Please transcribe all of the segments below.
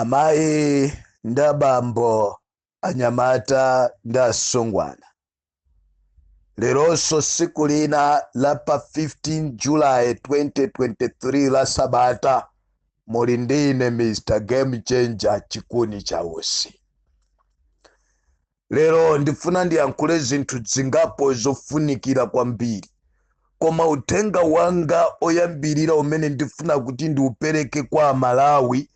amayi ndi abambo anyamata ndi asungwana leronso siku lina la pa 15 julayi 2023 la sabata muli ndine mr game changer chikuni cha usi Lero ndifuna ndiyankhule zinthu zingapo zofunikira kwambiri. Koma uthenga wanga oyambirira umene ndifuna kuti ndiupereke kwa Amalawi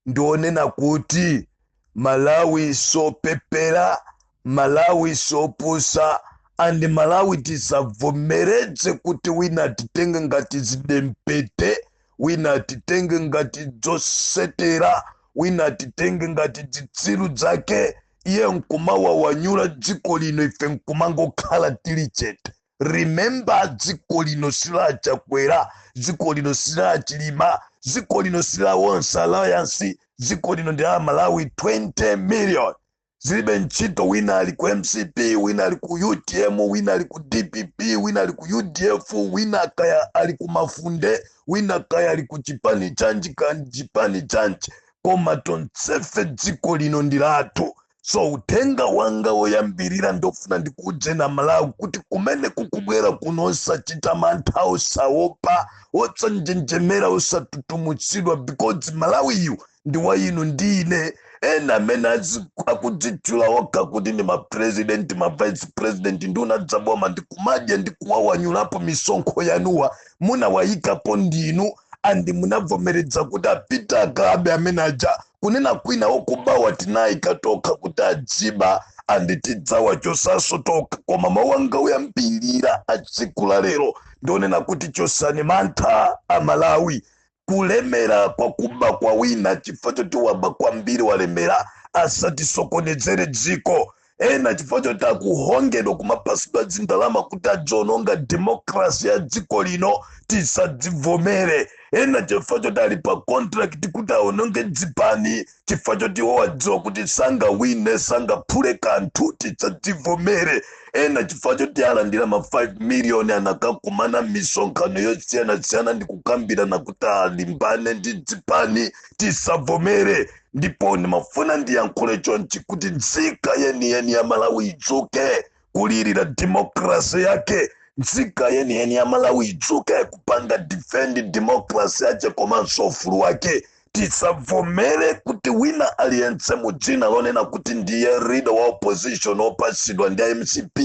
ndionena kuti Malawi siopepera, Malawi siopusa and Malawi tisavomereze kuti wina atitenge ngati zidempete, wina atitenge ngati dzosetera, wina atitenge ngati dzitsiru dzake. iye nkumawawanyula dziko lino ife nkumangokhala tili chete remember dziko lino si la Chakwera dziko lino si la Chilima dziko lino si la Tonse Alliance dziko lino ndi la Amalawi 20 million zilibe ntchito wina ali ku mcp wina ali ku utm wina ali ku dpp wina ali ku udf wina kaya ali ku mafunde wina kaya ali ku chipani chanji kan chipani chanji koma tonsefe dziko lino ndi lathu so uthenga wanga woyambirira ndifuna ndikuudzeni amalawi kuti kumene kukubwera kuno osachita mantha osaopa osanjenjemera osatutumutsidwa because malawiyu ndi wa inu ndi ine ena amene azi- akudzitchula okha kuti ndi mapresident mavice president nduna dza boma ndikumadya ndikuwawanyulapo misonkho yanuwa munawayikapo ndinu and munavomeredza kuti apite akabe amene aja kunena kwina okubawa tinayika tokha kuti adziba and tidzawachosanso tokha koma mawu anga oyambirira atsiku la lero ndionena kuti chosani mantha amalawi kulemera kwa kuba kwa wina chifukwa choti waba kwambiri walemera asatisokonezere dziko ena chifukwa choti akuhongedwa kumapasidwa dzindalama kuti adziononga demokrasi ya dziko lino tisadzivomere ena chifukwa choti ali pa contract kuti aononge dzipani chifukwa choti iwo wadziwa kuti sangawine sangaphule kanthu tisadzivomere ena chifukwa choti alandira ma 5 miliyoni anakakumana mmisonkhano yosiyanasiyana ndi kukambirana kuti alimbane ndi dzipani tisavomere ndipo ndimafuna ndiyankhule chonchi kuti nzika yeniyeni ya malawi idzuke kulirira democracy yake nzika yeniyeni ya malawi idzuke kupanga defend democracy yake komanso ufulu wake tisavomere kuti wina aliyense mu dzina lonena kuti ndiye leader wa opposition opatsidwa ndi a mcp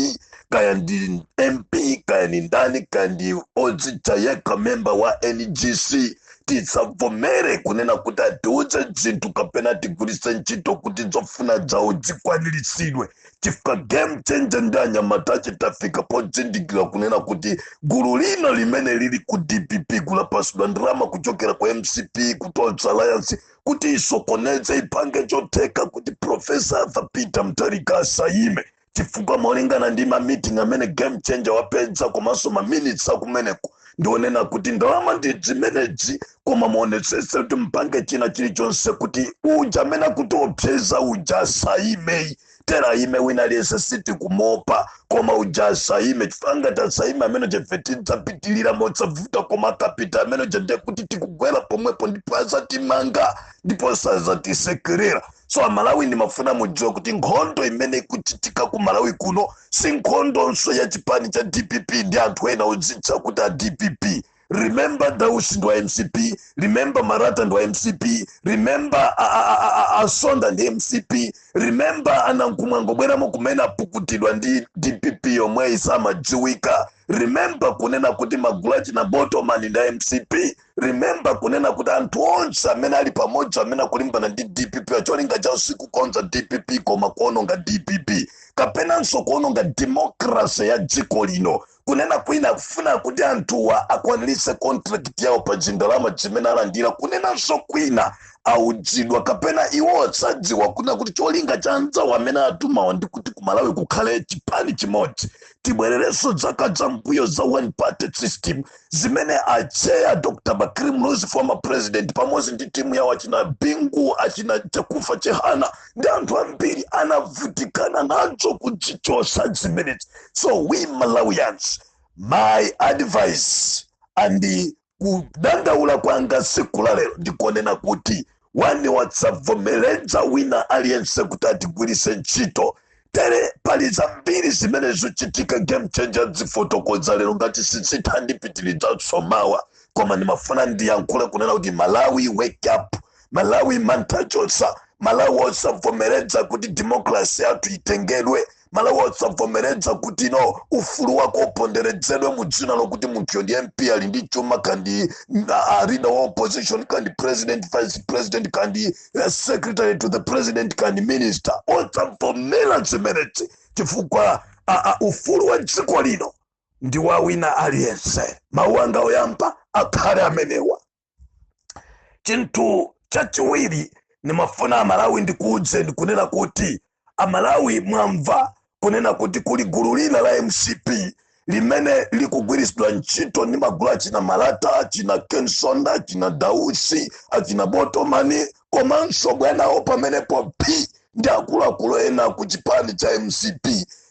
kaya ndi mp kaya ndi ndani kaya ndi odzitcha yekha member wa ngc tisavomere kunena kuti atiuze zinthu kapena atigwiritse ntchito kuti zofuna zawo zikwaniritsidwe chifukwa game changer ndi anyamata ache tafika podzindikira kunena kuti gulu lina limene lili ku dpp ku lapatsidwa ndalama kuchokera ku mcp ku tonse alliance kuti isokoneze ipange chotheka kuti profesa arthur peter mutharika asayime chifukwa molingana ndi ma meeting amene game changer wapeza komanso ma minutes akumeneko ndionena kuti ndalama ndi zimenezi koma muonetsetse kuti mupange china chilichonse kuti uja amene akutiopseza uja asaime tere aime wina aliyense sitikumuopa koma uja asaime chifukwa ngati asaime amene uja ife tidzapitirira mosavuta koma akapita amene uja nde kuti tikugwera pomwepo ndipo azatimanga ndipo sazatisekerera so amalawi ndimafuna mudziwe kuti nkhondo imene ikuchitika ku malawi kuno si nkhondonso ya chipani cha dpp ndi anthu ena odzitcha kuti a dpp remember dausi ndi wa mcp remember marata ndi wa mcp remember a- a- a- a- a msonda ndi mcp remember a nankhumwa angobweramo kumene apukutidwa ndi dpp yomweyi samadziwika remember kunena kuti magulu achina botomani ndi a mcp remember kunena kuti anthu onse amene ali pamodzi amene akulimbana ndi dpp acholinga chawo sikukonza dpp koma kuononga dpp kapenanso kuononga demokrase ya dziko lino kunena kwina akufuna kuti anthuwa akwaniritse contract yawo pa zindalama zimene alandira kunenanso kwina auzidwa kapena iwo osadziwa kunena kuti cholinga cha anzawo amene atumawa ndi kuti kumalawi kukhale chipani chimodzi tibwererenso zaka za mbuyo za one party system zimene atcheya dr bakili muluzi former president pamodzi ndi timu yawo achina bingu achina chakufa chihana ndi anthu ambiri anavutikana nacho kuchichotsa zimenezi so we malawians my advice and kudandaula kwanga siku la lero ndikonena kuti one osavomereza wina aliyense kuti atigwiritse ntchito tere pali zambiri zimene zikuchitika game changer azifotokoza lero ngati sizitha ndipitirizanso mawa koma ndimafuna ndiyankhule kunena kuti malawi wake up malawi mantha chotsa malawi osavomereza kuti demokrasi yathu itengedwe malawi osavomereza kuti no ufulu wako uponderezedwe mu dzina lokuti munthuyo ndi mp ali ndi chuma kaya ndi a leader wa opposition kaya ndi president vice president kaya ndi the secretary to the president kaya minister osavomera zimenezi chifukwa ufulu wa dziko lino ndi wa wina aliyense mawu anga oyamba akhale amenewa chinthu chachiwiri ndimafuna malawi ndikuudze ndikunena kuti amalawi mwamva kunena kuti kuli gulu lina la mcp limene likugwiritsidwa ntchito ndi magulu achina malata achina kensonda achina dausi achina botomani komanso bwanawo pamenepo ndi akuluakulu ena ku chipani cha mcp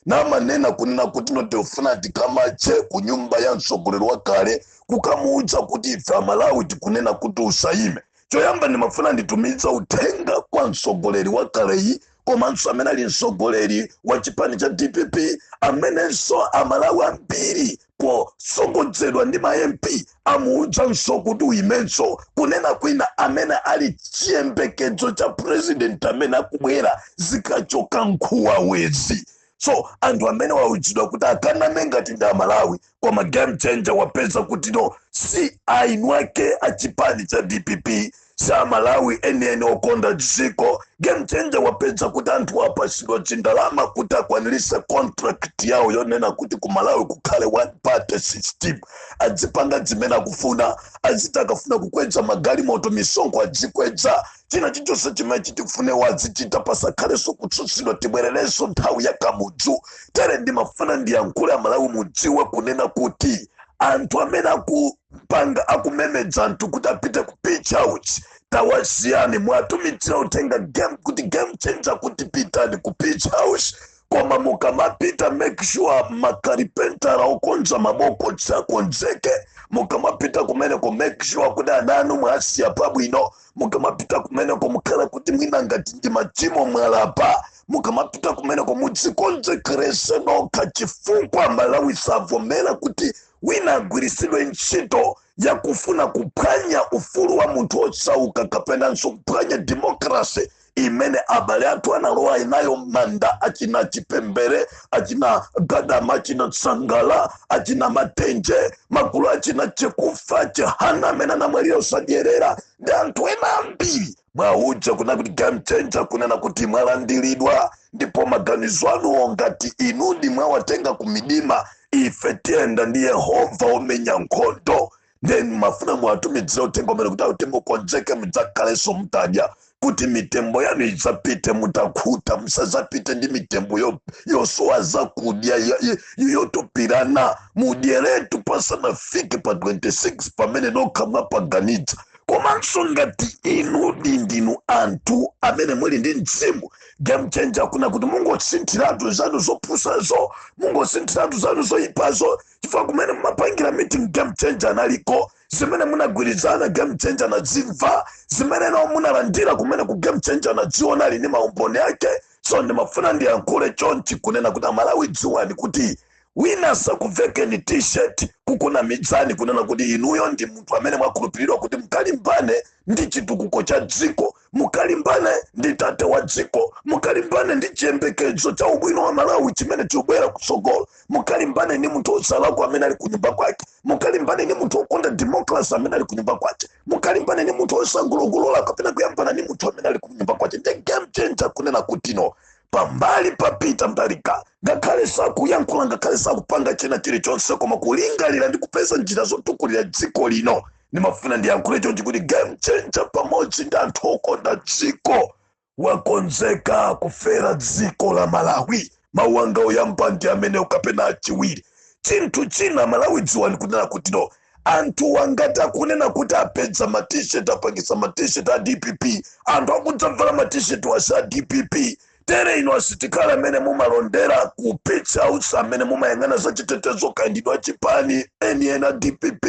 namanena kunena kuti no tufuna tikamache ku nyumba ya mtsogoleri wakale kukamuudza kuti ife amalawi tikunena kuti usayime choyamba ndimafuna nditumize uthenga kwa mtsogoleri wakaleyu komanso amene ali mtsogoleri wa chipani cha dpp amenenso amalawi ambiri potsogozedwa ndi ma mp amuudzanso kuti uyimenso kunena kuti ndi amene ali chiyembekezo cha purezidenti amene akubwera zikachoka nkhumbazi so anthu amene auzidwa kuti akaname ngati ndi amalawi koma game changer wapeza kuti no si eni ake a chipani cha dpp si amalawi enieni okonda dziko game changer wapeza kuti anthu apasidwa chindalama kuti akwanilise contract yawo yonena kuti ku malawi kukhale one party system adzipanga zimene akufuna aziti akafuna kukwedza magalimoto misonkho adzikwedza china chilichonse chimene chitifune azichita pasakhalenso kutsutsidwa tibwererenso nthawi ya kamudzu tere ndimafuna ndiyankhule amalawi mudziwe kunena kuti anthu amene akupanga akumemedza anthu kuti apite ku page house tawasiyani mwatumizira uthenga game kuti game changer kuti pitani ku page house koma mukamapita make sure makalipentala okonza mabokosi akonzeke mukamapita kumeneko make sure kuti ana anu mwasiya pabwino mukamapita kumeneko mukhala kuti mwina ngati ndi machimo mwalapa mukamapita kumeneko mudzikonzekerese nokha chifukwa amalawi savomera kuti wina agwiritsidwe ntchito ya kufuna kuphwanya ufulu wa munthu osauka kapenanso kuphwanya demokrasi imene abale athu analowa nayo manda achina chipembere achina gadama achina sangala achina matenje magulu achina chakufwa chihana amene anamwalira osadyerera ndi anthu ena ambiri muwauze kuna kuti game changer kunena kuti mwalandiridwa ndipo maganizo anuwo ngati inuyo mwawatenga kumidima ife tiyenda ndi yehova omenya nkhondo ndiye ndimafuna muwatumizire uthenga umene kuti akuti mukonzeke mudzakhalenso mutadya kuti mitembo yanu idzapite mutakhuta musadzapite ndi mitembo yo- yosowa zakudya yo- yo- yo- yotupirana mudyeretu pasanafike pa 26 pamene nokha mwapaganidza komanso ngati inu ndinu anthu amene muli ndi mzimu game changer akuna kuti mungosinthiratu zanu zopusazo mungosinthiratu zanu zoyipazo chifukwa kumene mumapangira meeting game changer analiko zimene munagwirizana game changer anazimva zimene nawo munalandira kumene ku game changer anaziona ali ndi maumboni ake so ndimafuna ndiyankhule chonchi kunena kuti amalawi dziwani kuti wina asakuvekeni t-shirt kukunamizani kunena kuti inuyo ndi munthu amene mwakhulupiriridwa kuti mukalimbane ndi chitukuko cha dziko mukalimbane ndi tate wa dziko mukalimbane ndi chiyembekezo cha ubwino wa malawi chimene chikubwera kutsogolo mukalimbane ndi munthu osalakwa amene ali kunyumba kwake mukalimbane ndi munthu okonda demokrasi amene ali kunyumba kwake mukalimbane ndi munthu osangulogolola kapena kuyambana ndi munthu amene ali kunyumba kwake ndi game changer kunena kuti no pambali pa Peter Mutharika ngakhale sakuyankhula ngakhale sakupanga china chilichonse koma kulingalira ndi kupeza njira zotukulira dziko lino ndimafuna ndiyankhule chonchi kuti game changer pamodzi ndi anthu okonda dziko wakonzeka kufera dziko la malawi mawu anga oyamba ndi amenewo kapena achiwiri chinthu china malawi dziwani kunena kuti no anthu wa angati akunena kuti apeza matishet apangitsa matishet a dpp anthu akudzabvala matishet wasa a dpp tere inu asitikali amene mumalondera ku Page House amene mumayang'ana za chitetezo kaya ndinu achipani enieni a dpp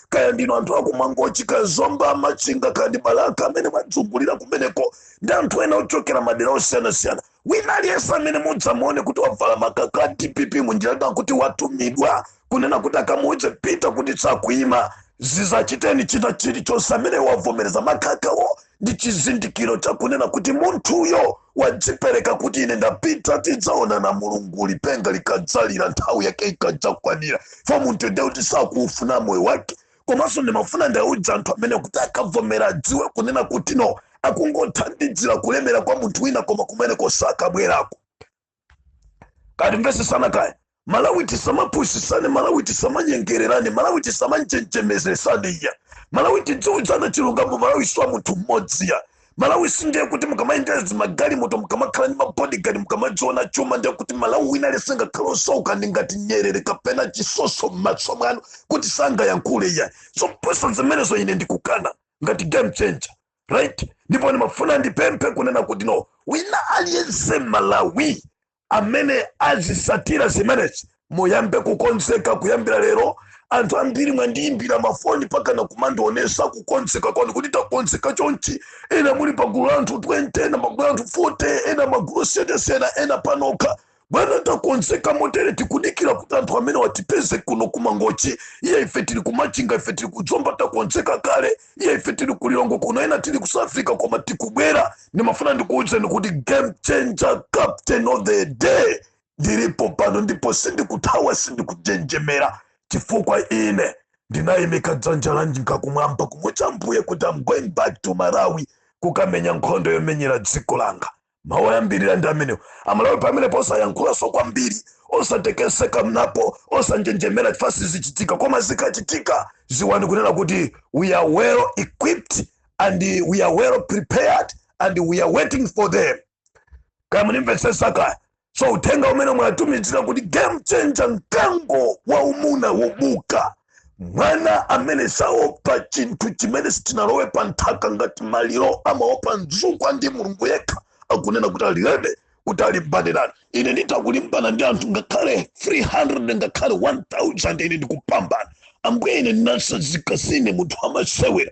kaya ndinu anthu akumangochi kaya zomba machinga kaya ndi balaka amene mwazungulira kumeneko ndi anthu ena ochokera madera osiyanasiyana wina aliyense amene mudzamuone kuti wavala makaka a dpp munjira ndi kuti watumidwa kunena kuti akamuuze Peter kuti sakuima dzamuchiteni china chilichonse amene wavomereza makakawo ndi chizindikiro chakunena kuti munthuyo wadzipereka kuti ine ndapita tidzaonana mulungu lipenga likadzalira nthawi yake ikadzakwanira fo munthu ndiye kuti sakuufuna moyo wake komanso ndimafuna ndiwauze anthu amene kuti akavomera adziwe kunena kuti no akungothandizira kulemera kwa munthu wina koma kumeneko sakabwerako kaya timvetsetsane kaya malawi tisamapusisane malawi tisamanyengererane malawi tisamanjenjemezesane iyayi malawi tidziuzana chilungamo malawi si wa munthu mmodzi iyayi malawi sindiye kuti mukamayendera zimagalimoto mukamakhala ndi mabodigadi mukamadziona chuma ndiye kuti malawi wina aliyense ngakhale osauka ndi ngati nyerere kapena chitsotso m'matso mwanu kuti sangayankhule iyayi zopusa zimenezo ine ndikukana ngati game changer right ndipo ndimafuna ndipemphe kunena kuti no wina aliyense malawi amene azisatira zimenezi muyambe kukonzeka kuyambira lero anthu ambiri mwandiyimbira mafoni pakana kumandionesa kukonzeka kwanu kuti takonzeka chonchi ena muli pagulu la anthu 20 ena pagulu la anthu 40 ena magulu osiyana ena panokha bwana takonzeka motere tikudikira kuti anthu amene watipeze kuno kumangochi iye ife tili kumachinga ife tili kuzomba takonzeka kale iye ife tili kulilongwe kuno ena tili ku south africa koma tikubwera ndimafuna ndikuwuzeni kuti game changer captain of the day ndilipo pano ndipo sindikuthawa sindikujenjemera chifukwa ine ndinayimika dzanja lanjinga kumwamba kumuuza ambuye kuti i'm going back to malawi kukamenya nkhondo yomenyera dziko langa mawu oyambirira ndi amenewo amalawi pamenepo osayankhulanso kwambiri osatekeseka mulipo osanjenjemera chifukwa zichitika koma zikachitika ziwani kunena kuti we are well equipped and we are well prepared and we are waiting for them kaya munimvetsetsa kaya so uthenga umene mwatumizira kuti game changer mkango waumuna wobuka mwana amene saopa chinthu chimene sichinalowe pa nthaka ngati maliro amaopa mzukwa ndi mulungu yekha akunena kuti ali rede kuti alimbane ndi ine nditakulimbana ndi anthu ngakhale 300 ngakhale 1000 ine ndikupambana ambuye ine ndinasazika sine munthu wamasewera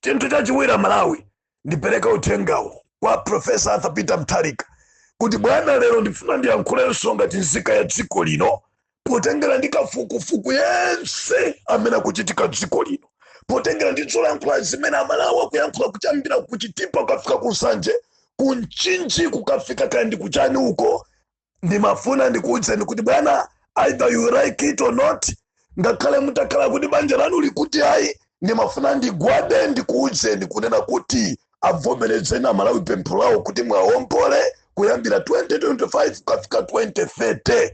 chinthu chachiwiri amalawi ndipereka uthengawo kwa profesa arthur peter mutharika kuti bwana lero ndifuna ndiyankhulenso ngati nzika ya dziko lino potengera ndi kafukufuku yense amene akuchitika dziko lino potengera ndi zolankhula zimene amalawi akuyankhula kuyambira kuchitipa kukafika ku nsanje ku mchinji kukafika kaya ndi kuchani uko ndimafuna ndikuwuzeni kuti bwana either you like it or not ngakhale mutakhala kuti banja lanu likuti ayi ndimafuna ndigwade ndikuwuzeni kunena kuti avomerezeni amalawi pempho lawo kuti mwaombole kuyambira 2025 kukafika 2030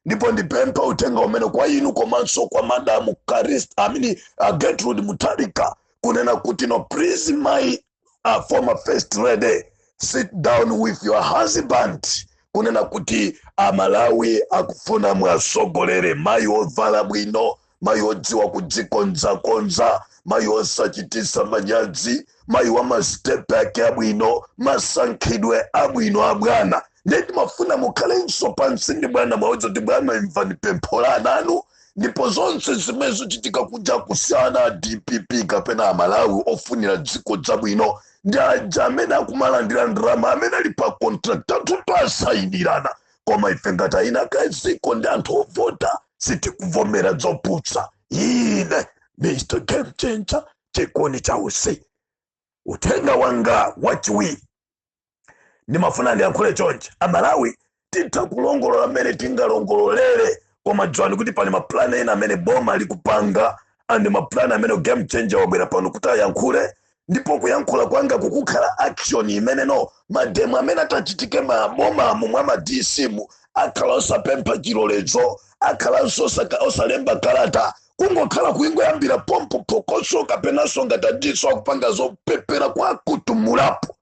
ndipo ndipempha uthenga umene kwa inu komanso kwa madamu callista i mean uh, gertrude mutharika kunena kuti no please my former first lady sit down with your husband kunena kuti amalawi akufuna mwasogolere mayi ovala bwino mayi odziwa kudzikonzakonza mayi osachitisa manyazi mayi wa mastepe ake abwino masankhidwe abwino abwana nde timafuna mukhalenso pansi ndi bwana muwauze kuti bwana imvani pempho la ananu ndipo zonse zimene zochitika kuja kusiyana a dpp kapena amalawi ofunira dziko zabwino ndi aja amene akumalandira ndalama amene ali pa contract anthu asayinirana koma ife ngati eni ake dziko ndi anthu ovota sitikuvomera zopusa ine mr game changer chikoni chausi uthenga wanga wachiwiri ndimafuna ndiyankhule chonchi amalawi titha kulongolola mmene tingalongololere koma dziwani kuti pali mapulani ena amene boma likupanga and mapulani amene game changer wabwera pano kuti ayankhule ndipo kuyankhula kwanga kukukhala action imene no mademo amene atachitike mabomamu mwa ma dc mu akhala osapempha chilolezo akhalanso osalemba kalata kungokhala kungoyambira pompo phokoso kapenanso ngati a dc nso akupanga zopepera kwa kutumulapo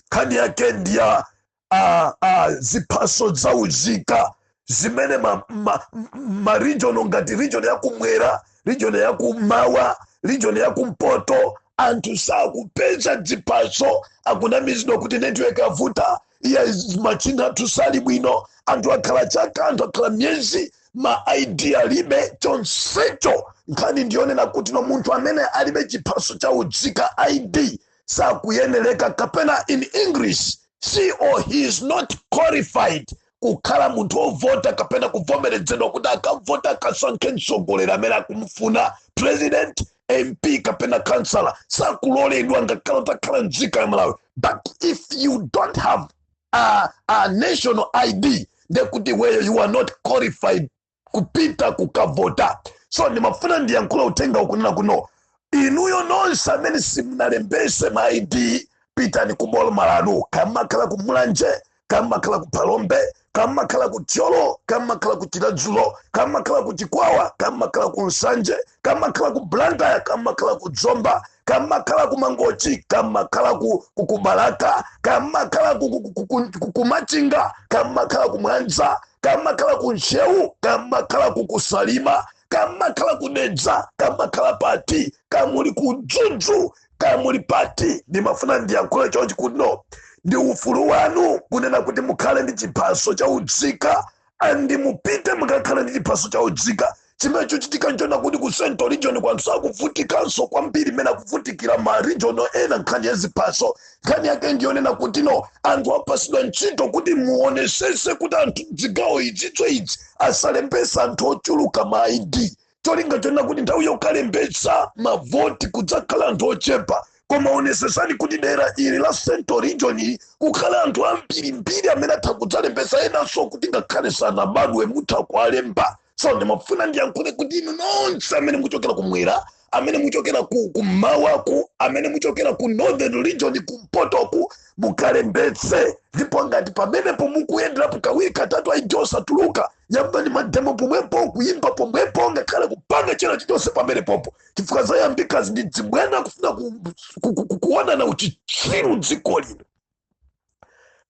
nkhani yake ndi ya a, a, ziphaso za uzika zimene ma, ma, ma region ngati region yakumwera region yakumawa region yakumpoto anthu sakupeza dziphaso akunamizidwa kuti network yavuta iya machine athu sali bwino anthu akhala chaka anthu akhala miyezi ma id alibe chonsecho nkhani ndiyonena kuti no munthu amene alibe chiphaso cha unzika id sakuyenereka kapena in english she or he is not qualified kukhala munthu ovota kapena kuvomerezedwa kuti akavota akasankhe mtsogoleri amene akumufuna president mp kapena kansala sakuloledwa ngakhale utakhala nzika ya malawi but if you don't have a, a national id ndekuti iweyo you are not qualified kupita kukavota so ndimafuna ndiyankhule uthenga kunena kuti no inuyo nonse amene simunalembetse ma id pitani ku boma lanu kaya mumakhala ku mulanje kaya mumakhala ku phalombe kaya mumakhala ku thyolo kaya mumakhala ku chiradzulu kaya mumakhala ku chikwawa kaya mumakhala ku nsanje kaya mumakhala ku blantyre kaya mumakhala ku zomba kaya mumakhala ku mangochi kaya mumakhala ku, ku, ku balaka kamakhala ku, ku, ku, ku, ku, ku machinga kaya mumakhala ku mwanza kaya mumakhala ku ntcheu kaya mumakhala ku ku salima kaya mumakhala ku dedza kaya mumakhala pati kaya muli ku mzuzu kaya muli pati ndimafuna ndiyankhule chonchi kuti no ndi ufulu wanu kunena kuti mukhale ndi chiphaso cha unzika and mupite mukakhale ndi chiphaso cha unzika chimene chochitika nchonena kuti ku central region ko anthu sakuvutikanso kwambiri mmene akuvutikira ma region ena nkhani ya ziphaso nkhani yake ndiyonena kuti no anthu apatsidwa ntchito kuti muonetsetse kuti anthu zigawo izi izi asalembetse anthu ochuluka ma id cholinga chonena kuti nthawi yokalembetsa mavoti kudzakhala anthu ochepa koma onesesani kuti dera ili la central region kukhala anthu ambirimbiri amene atha kudzalembetsa enanso kuti ngakhale sanabadwe mutha kuwalemba so ndimafuna ndiyankhule kuti inu nonse amene muchokera kumwera amene muchokera kummawaku amene muchokera ku northern region kumpotoku mukalembetse ndipo ngati pamenepo mukuyenderapo kawiri katatu id osatuluka yambani mademo pomwepo kuyimba pomwepo ngakhale kupanga china chilichonse pamenepopo chifukwa zayambikazi ndi zibwana kufuna ku- ku- ku- ku- kuonana uchitsiru dziko lino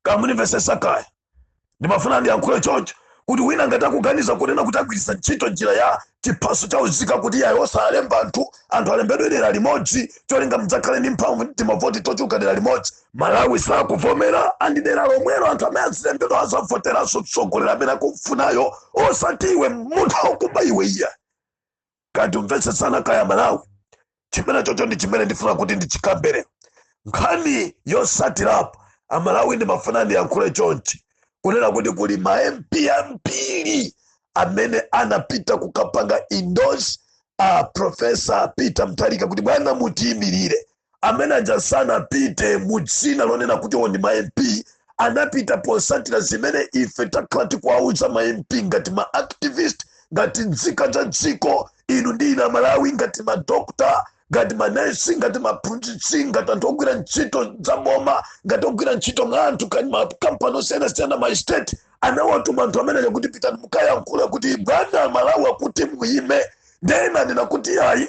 kamunimvesesa kaya ndimafuna ndiyankhule choncho kuti wina ngati akuganiza kunena kuti agwiritsa ntchito njira ya chiphaso cha unzika kuti iyayi osalemba anthu anthu alembedwe dera limodzi cholinga mudzakhale ndi mphamvu ndi timavoti tochuluka dera limodzi malawi sakuvomera andi dera lomwelo anthu amene azilembedwa azavoteranso mtsogoleri amene akufunayo osati iwe munthu wakuba iwe iya katimvetsetsana kaya malawi chimenechocho ndi chimene ndifuna kuti ndichikambere nkhani yosatirapo amalawi ndimafuna ndiyankhule chonchi kunena kuti kuli ma mp ambiri amene anapita kukapanga endorse a profesa peter mutharika kuti bwana mutiyimirire amene aja sanapite mu dzina lonena kuti iwo ndi ma mp anapita posatira zimene ife takhala tikuwauza ma mp ngati ma activist ngati nzika za dziko inu ndi ine amalawi ngati madokta ngati manesi ngati maphunzitsi ngati anthu ogwira ntchito za boma ngati ogwira ntchito mwa anthu kani makampani osiyanasiyana ma estate anawatuma anthu amene aja kuti pitani mukayankhule kuti bwana malawi akuti muyime ndena ndina kuti ayi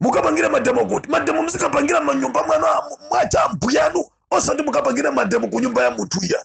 mukapangire mademo kuti mademo muzikapangira manyumba mwanu a- mwa achambuyanu osati mukapangire mademo ku nyumba ya munthu iya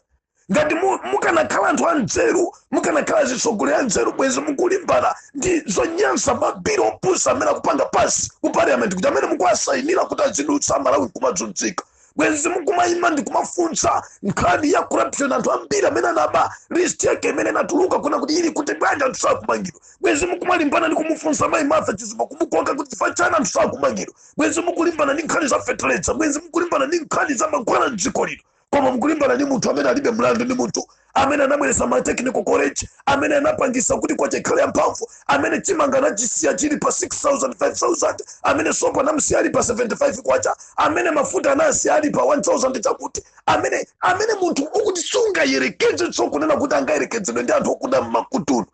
ngati mu- mukanakhala anthu anzeru mukanakhala zitsogoleri anzeru bwezi mukulimbana ndi zonyansa mabiri opusa amene akupanga pasi ku parliament kuti amene mukuwasayinira kuti azidutsa amalawi nkumazunzika bwenzi mukumayima ndikumafunsa nkhani ya corruption anthu ambiri amene anaba list yake imene inatuluka kunena kuti ili kuti bwanji anthu sakumangidwa bwenzi mukumalimbana ndi kumufunsa mayi martha chizuma kumukoka kuti chifukwa chani anthu sakumangidwa bwenzi mukulimbana ndi nkhani za feteleza bwenzi mukulimbana ndi nkhani za mankhwala mdziko lino koma mukulimbana ndi munthu amene alibe mlandu ndi munthu amene anabweretsa ma technical college amene anapangisa kuti kwacha ikhale yamphamvu amene chimanga anachisiya chili pa 6000 5000 amene sopo anamsiya ali pa 75 kwacha amene mafuta anasiya ali pa 1000 chakuti amene amene munthu wokuti sungayerekeze zokunena kuti angayerekezedwe ndi anthu okuda mmakutunu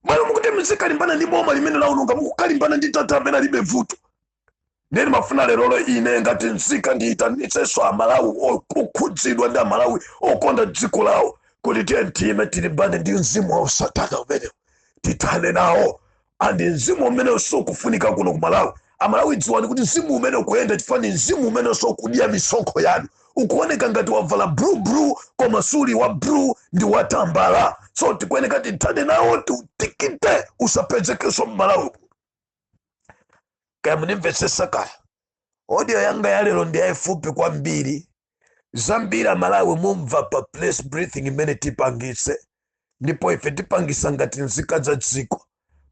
mmalo mokuti muzikalimbana ndi boma limene laononga mukukalimbana ndi tata amene alibe vuto ndiye ndimafuna lerolo ine ngati nzika ndiyitanitsenso amalawi o- okhudzidwa ndi amalawi okonda dziko lawo kuti tiyeni tiime tilimbane ndi mzimu wa usatana umenewu tithane nawo andi mzimu umenewu sukufunika kuno ku malawi amalawi dziwani kuti mzimu umene ukuyenda chifukwa ndi mzimu umene ukudya misonkho yanu ukuoneka ngati wavala blue blue koma suli wa blue ndi watambala so tikuyeneka tithane nawo tiutikite usapezekenso mmalawi kaya munimvetsetsa kaya audio yanga ya lero ndi yayifupi kwambiri zambiri amalawi mumva pa press briefing imene tipangitse ndipo ife tipangisa ngati nzika za dziko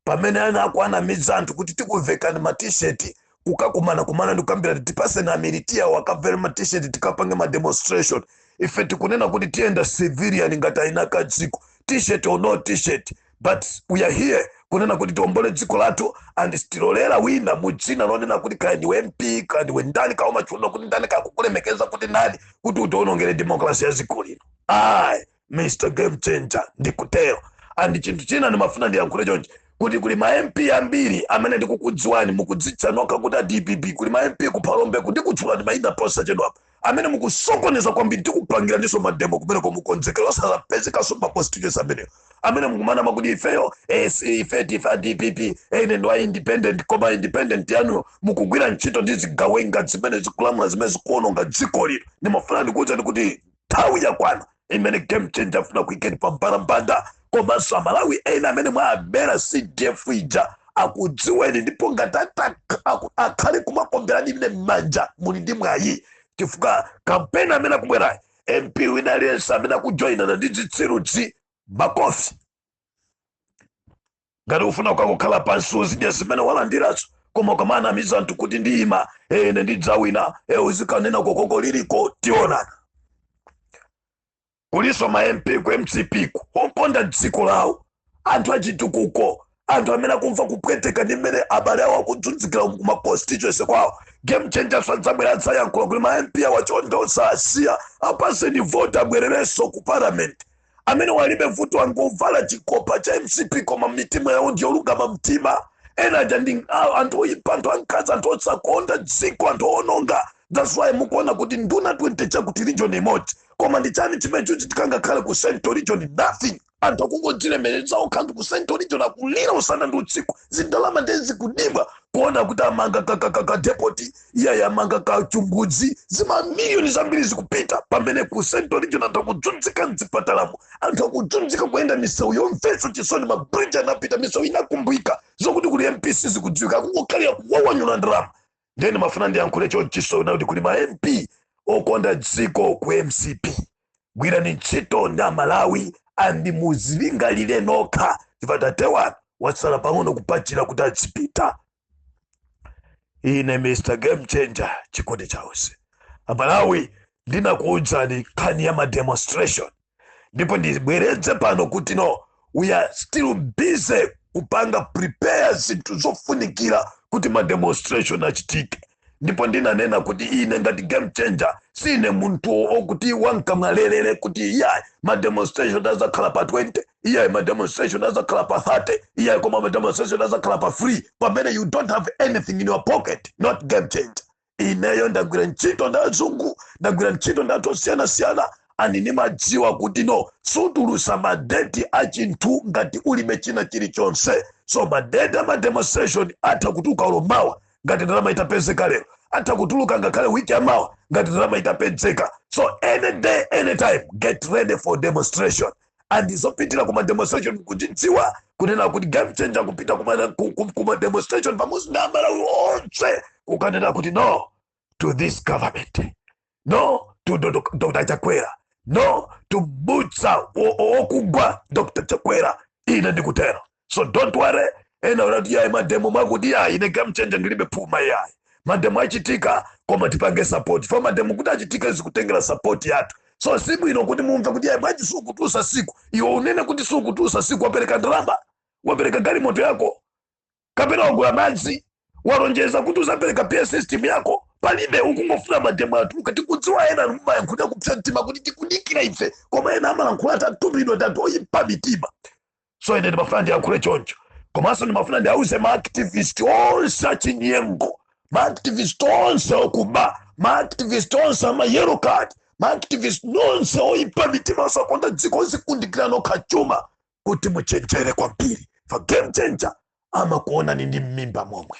pamene ena akunamiza anthu kuti tikuvekeni matisheti kukakumana kumana ndikukambirana tipatse mamilitiya awo akavale matisheti tikapange mademonstration ife tikunena kuti tiyenda civilian ngati eni ake dziko t-shirt or no t-shirt but we are here kunena kuti tiombole dziko lathu and sitilolera wina mu dzina lonena kuti kaya ndiwe mp kaya ndiwe ndani kaya umatchulidwa kuti ndani kaya akukulemekeza kuti ndani kuti utionongere demokrasi ya dziko lino ayi as a game changer ndikutero and chinthu china ndimafuna ndiyankhule chonchi kuti kuli ma mp ambiri amene ndikukudziwani mukudzitcha nokha kuti a dpp kuli ma mp kuphalombeku ndikutchulani maina posachedwapa amene mukusokoneza kwambiri tikupangiraninso mademo kumeneko mukonzekera osazapezekanso ma constituency amenewo amene mukumanama kuti ifeyo e ife ndife a dpp e ine ndi wa independent koma independent yanuyo mukugwira ntchito ndi zigawenga zimene zikulamula zimene zikuononga dziko lino ndimafuna ndikuwuzeni kuti nthawi yakwana imene game changer ifuna kuikeni pa mbalambanda komanso amalawi ena amene mwawabera cdf ija akudziweni ndipo ngati ata- aku- akhale kumakuomberani ine m'manja muli ndi mwayi chifukwa kampeni imene ikubwerayi mp wina aliyense amene akujoyinana ndi zitsiruzi makofi ngati ufuna ukakhale pansi uzidya zimene walandirazo koma ukamanamiza anthu kuti ndiyima e ine ndidzawina e uzikanena kokoko liliko tionana kulinso ma mp ku mcp-ku okonda dziko lawo anthu achitukuko anthu amene akumva kupweteka ndi mmene abale awo akuzunzikira ku ma constituency kwawo game changers adzabwera adzayankhula kuti ma mp awa chonde osawasiya apaseni vote abwererenso ku parliament amene walibe vuto angovala chikopa cha mcp koma mmitima yawo ndi olungama mtima ena aja ndi a- anthu oyipa anthu ankhanza anthu osakonda dziko anthu owononga that's why mukuona kuti nduna 20 chakuti region imodzi koma ndi chani chimene chachitika ngakhale ku central region nothing anthu akungodzilemeretsa okha anthu ku central region akulira usana ndi usiku zindalama ndiye zikubedwa kuona kuti amanga kakakaka depoti iye ayamanga kachimbudzi zimamiliyoni zambiri zikupita pamene ku central region anthu akudzunzika mzipatalamo anthu akudzunzika kuyenda misewu yomvetsa chisoni mabridge anapita misewu inakumbika zokuti kuli mp sizikudziwika akungokhalira kuwawanyula ndalama nde ndimafuna ndiyankhule chonchiso kuti kuli ma mp okonda dziko ku mcp gwirani ntchito ndi amalawi and muzilingalire nokha chifukwa tate wanu watsala pang'ono kupachira kuti adzipita ine mr game changer chikondi cha onse amalawi ndinakuudzani nkhani ya mademonstration ndipo ndibwereze pano kuti no we are still busy kupanga prepare zinthu zofunikira kuti mademonstration achitike ndipo ndinanena kuti ine ngati game changer sine munthu okuti wankamwalelere kuti iyayi ma demonstration azakhala pa 20 iyayi ma demonstration azakhala pa 30 iyayi koma ma demonstration azakhala pa 3 pamene you don't have anything in your pocket not game changer ineyo ndagwira ntchito ndi azungu ndagwira ntchito ndi anthu osiyanasiyana ani nimadziwa kuti no sutulusa madeti a chinthu ngati ulibe china chilichonse so madeti a mademonstration atha kutuluka olo mawa ngati ndalama itapezeka lero atha kutuluka ngakhale wiki yamawa ngati ndalama itapezeka so any day any time get ready for demonstration ndi zofikira kuma demonstration kuchidziwa kunena kuti game changer kupita kuma demonstration pamodzi ndi amalawi onse kukanena kuti no to this government no to Dr. Chakwera, no to Butsa Okugwa Dr. Chakwera, ine ndikutero. So don't worry, ena mumati yayi mademo mwakuti yayi ine game changer ndilibe phuma yayi. Mademo achitika koma tipange support. Fa mademo kuti achitike zikutengera support yathu. So si bwino kuti mumve kuti yayi bwanji sukutusa siku. Iwe ukunena kuti sukutusa siku wapereka ndalama, wapereka galimoto yako. kapena wagula madzi walonjeza kuti uzapereka pa system yako palibe ukungofuna mademo atuluke tikudziwa ena mumayankhulira kupsa mtima kuti tikudikira ife koma ena amalankhula atumidwa anthu oyipa mitima so ine ndimafuna ndiyankhule choncho komanso ndimafuna ndiauze maactivist onse achinyengo maactivist onse okuba maactivist onse ama yellow card maactivist nonse oyipa mitima osakonda dziko ozikundikira nokha chuma kuti muchenjere kwambiri fa game changer amakuonani ndi mmimba momwe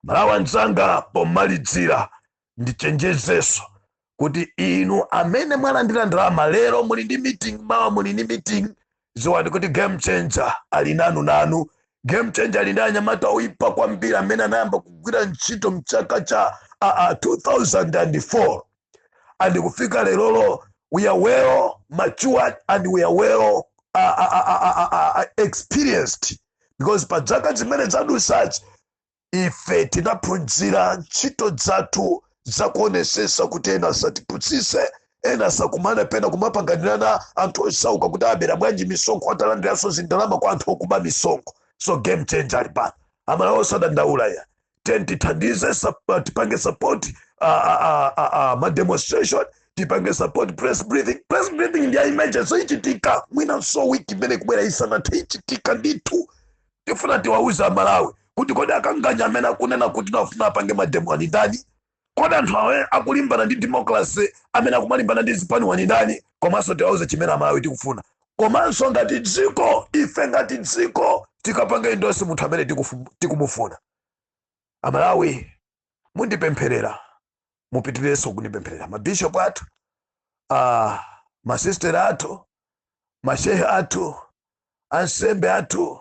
amalawi anzanga pomalidzira ndichenjezeso kuti inu amene mwalandira ndalama lero muli ndi meeting mawa muli ndi meeting ziwani kuti game changer ali nanu nanu game changer ali ndi anyamata oyipa kwambiri amene anayamba kugwira ntchito mchaka cha uh, uh, 2004 and kufika lerolo we are well matured and we are well uh, uh, uh, uh, uh, uh, uh, experienced because pa zaka zimene zadusazi ife tinaphunzira ntchito zathu zakuonesesa kuti ena asatipusise ena asakumane pena kumapanganirana anthu osauka kuti abera bwanji misonkho atalandiranso zindalama kwa anthu okuba misonkho so game changer ali pano amalawi osadandaula iyayi ten tithandize sup- tipange support ah, ah, ah, ah, ah, ma demonstration tipange support press briefing press briefing ndi ya emergency ichitika mwinanso wiki imene ikubwera isanathe ichitika ndithu tifuna tiwauze amalawi kuti kodi akanganya amene akunena kuti akufuna apange mademo ali ndani Kodi anthu awa akulimbana ndi democracy amene akumalimbana ndi zipaniwa ndi ndani komanso tiwauze chimene amalawi tikufuna komanso ngati dziko ife ngati dziko tikapanga endorse munthu amene tikufu- tikumufuna amalawi mundipempherere mupitirizenso kundipempherera mabishop athu ah, masistera athu mashehe athu ansembe athu